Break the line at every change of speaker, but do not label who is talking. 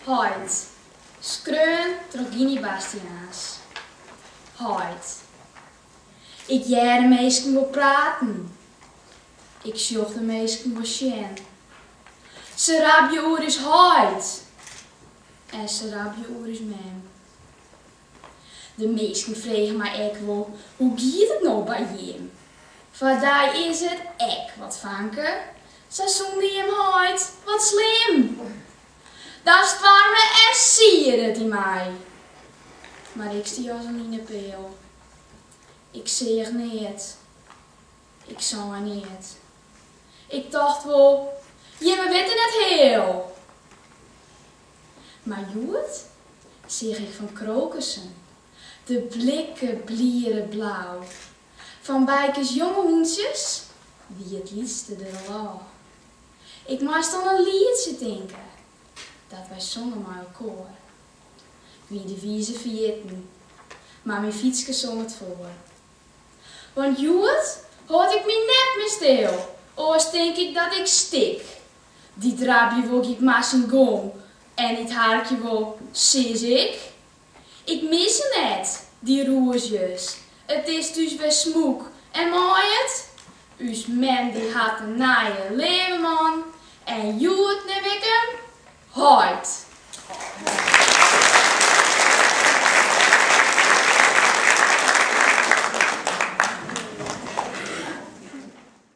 Heit, skreaun troch Giny Bastiaans. Heit, Ik hear de minsken wol praten. Ik sjoch de minsken wol sjen. Se rabje oer ús heit en se rabje oer ús mem. De minsken fregen my ek wol, hoe giet it no by jim? Foar dy is it ek wat fanke, sa sûnder jim heit, wat slim! Dan stoarme en siede it yn my. Mar ik stie as in linepeal. Ik seach neat. Ik sei neat. Ik tocht wol, jimme witte net heal! Mar hjoed seach ik fan krokussen, de blikke bliere blau. Fan Bykes jonge hûntsjes wie it lytste der al ôf. Ik moast oan in lietsje tinke dat wy songen mei elkoar. Wie de wize ferjitten, mar myn fytske song it foar. Want hjoed hâld ik my net mear stil, oars tink ik dat ik stik. Dy't rabje wol giet mar syn gong en dy't harkje wol, sis ik. Ik mis se net, dy rûzjes, it is thús wer smûk en mei it. Us mem dy hat in nije leave man en hjoed neam ik him heit.